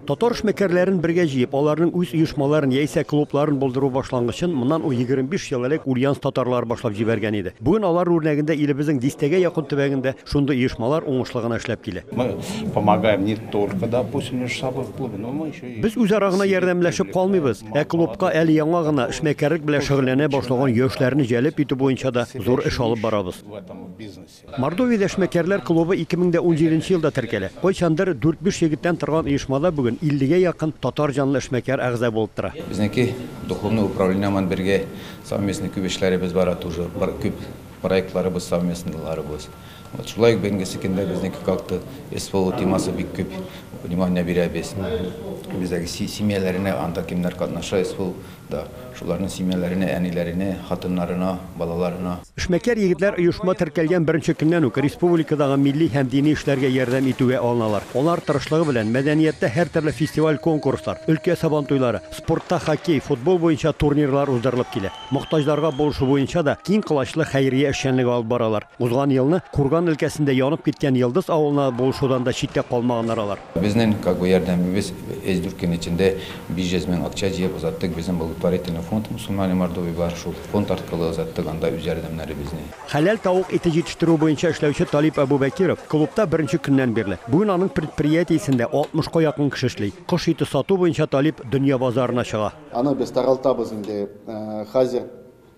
Татар эшмәкәрләрен бергә җыеп, аларның үз оешмаларын яисә клубларын булдыру башлангычын моннан 25 ел элек Ульяновск татарлары башлап җибәргән иде. Бүген алар үрнәгендә илебезнең дистәгә якын төбәгендә шундый оешмалар уңышлы гына эшләп килә. Без үзара гына ярдәмләшеп калмыйбыз, ә клубка әле яңа гына эшмәкәрлек белән шөгыльләнә башлаган яшьләрне җәлеп итү буенча да зур эш алып барабыз. Мордовиядә эшмәкәрләр клубы 2017 нче елда теркәлә. Кайчандыр дүрт-биш егеттән торган оешмада бүген 50 гә якын татар җанлы эшмәкәр әгъза булып тора. Безнеке духовный управление ман бергә совместный күп эшләребез бара тоже, бар күп проектларыбыз совместныйларыбыз. Вот шулай ук бенгесе көндә безнеке как то СВО темасы бик күп внимание бирәбез. Бездәге се семьяләренә анда кемнәр катнаша СВО. Да, шуларның семьяләренә, әниләренә, хатыннарына, балаларына. Эшмәкәр егетләр оешма теркәлгән беренче көннән үк республикадагы милли һәм дини эшләргә ярдәм итүгә алыналар. Алар тырышлыгы белән мәдәнияттә һәртөрле фестиваль-конкурслар, өлкә сабантуйлары, спортта хоккей, футбол буенча турнирлар уздырылып килә. Мохтаҗларга булышу буенча да киң колачлы хәйрия эшчәнлеге алып баралар. Узган елны Курган өлкәсендә янып киткән Йылдыз авылына булышудан да читтә калмаганнар алар. Безнең как бы ярдәмебез өч дүрт көн эчендә 500 мең акча җыеп озаттык безнең благотворительный фонд Мусульмане Мордовии бар шул фонд арткылы озаттык анда үз ярдәмнәребезне. Хәләл тавык ите җитештерү буенча эшләүче Талип Әбүбәкиров клубта беренче көннән бирле. Бүген аның предприятиесендә 60 ка якын кеше эшли. Кош ите сату буенча Талип дөнья базарына чыга. Аны без таралтабыз инде хәзер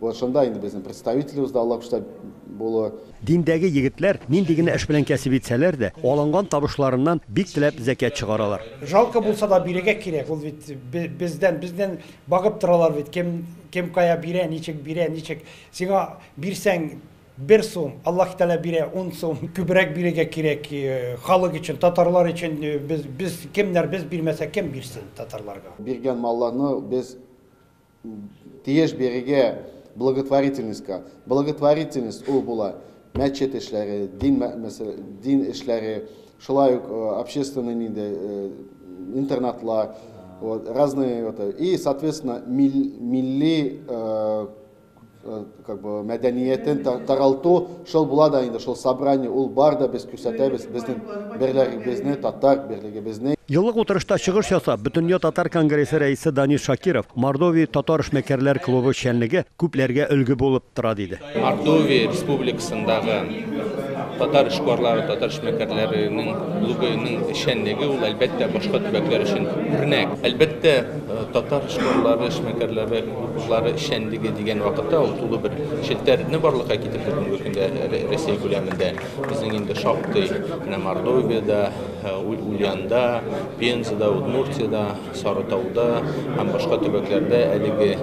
Вот шунда инде безнең представителебез да Алла күрсә булуы. Диндәге егетләр нинди генә эш белән кәсеп итсәләр дә, алынган табышларыннан бик теләп зәкят чыгаралар. Жалко булса да бирергә кирәк, ул бит бездән, безнең багып торалар бит, кем, кем кая бирә, ничек бирә, ничек. Сиңа бирсәң бер сум, Аллаһ Тәгалә бирә ун сум, күбрәк бирергә кирәк халык өчен, татарлар өчен, без, без кемнәр, без бирмәсәк кем бирсен татарларга. Биргән малларны без Тиеш бирергә благотворительностька. Благотворительность ул була мәчет эшләре, дин мәсьәлә, дин эшләре, шулай ук общественный нинди интернатлар, вот, разные это. И, соответственно, милли Э, как бы мәдәниятен таралту шул була да инде шул собрание ул бар да без күрсәтәбез безнең берлегебезне татар берлегебезне Еллык утырышта чыгыш ясап, Бөтендөнья татар конгрессы рәисе Данис Шакиров, Мордовия татар эшмәкәрләр клубы эшчәнлеге күпләргә өлге булып тора диде. Мордовия республикасындагы татар эшкуарлары, татар эшмәкәрләренең клубының эшчәнлеге ул әлбәттә башка төбәкләр өчен үрнәк. Әлбәттә, э, татар эшкуарлары, эшмәкәрләре Укучылары эшчәнлеге дигән вакытта ул тулы бер челтәрне барлыкка китерде бүгенге көндә Россия күләмендә. Безнең инде шактый менә Мордовиядә, Ульянда, Пензада, Удмуртиядә, Сарытауда һәм башка төбәкләрдә әлеге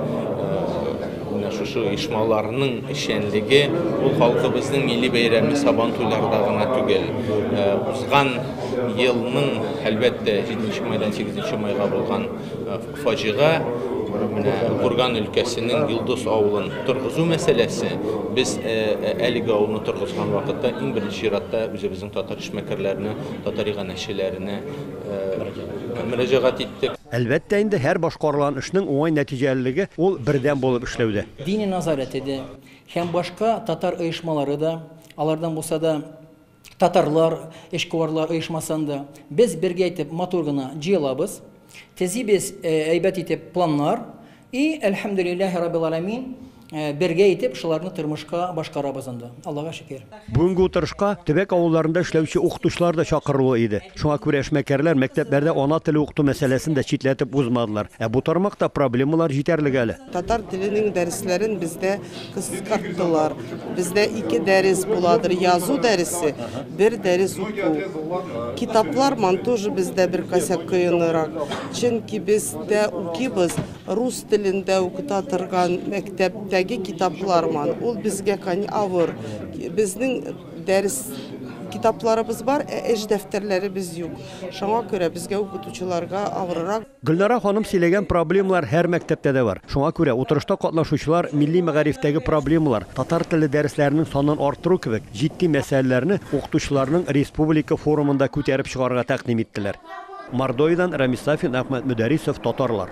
менә шушы оешмаларның эшчәнлеге ул халкыбызның милли бәйрәме Сабан туйларда гына түгел, узган елның, әлбәттә, 7 нче майдан 8 нче майга булган Фаҗига менә Курган өлкәсенең Йолдыз авылын торгызу мәсьәләсе. Без әлеге авылны торгызган вакытта иң беренче чиратта үзебезнең татар эшмәкәрләренә, татар иганәчеләренә мөрәҗәгать иттек. Әлбәттә инде, һәр башкарылган эшнең уңай нәтиҗәлелеге ул бердәм булып эшләүдә. Диния назарәте дә һәм башка татар оешмалары да, алардан булса да, Татарлар эшкуарлар оешмасы анда. Без бергә итеп матур гына җыелабыз. Тезибез әйбәт итеп планнар и, әлхәмдүлилләһи раббил аләмин, бергә итеп шуларны тормышка башкарабыз анда. Аллага шөкер. Бүгенге утырышка төбәк авылларында эшләүче укытучылар да чакырулы иде. Шуңа күрә эшмәкәрләр мәктәпләрдә ана теле укыту мәсьәләсен дә читләтеп узмадылар. Ә бу тармакта проблемалар җитәрлек әле. Татар теленең дәресләрен бездә кыскарттылар. Бездә ике дәрес буладыр, язу дәресе, бер дәрес уку. Китаплар ман тоже бездә бер косяк кыенрак. Чөнки бездә укибыз рус телендә укыта торган мәктәптәге китаплар ман. Ул безгә кань авыр. Безнең дәрес китапларыбыз бар, ә эш дәфтәрләребез юк. Шуңа күрә безгә укытучыларга авыррак. Гөлнара ханым сөйләгән проблемалар һәр мәктәптә дә бар. Шуңа күрә утырышта катнашучылар милли мәгарифтәге проблемалар, татар теле дәресләренең санын арттыру кебек җитди мәсьәләләрне укытучыларның республика форумында күтәреп чыгарга тәкъдим иттеләр. Мордовиядән Рамис Сафин, Әхмәт Мөдәрисов, Татарлар.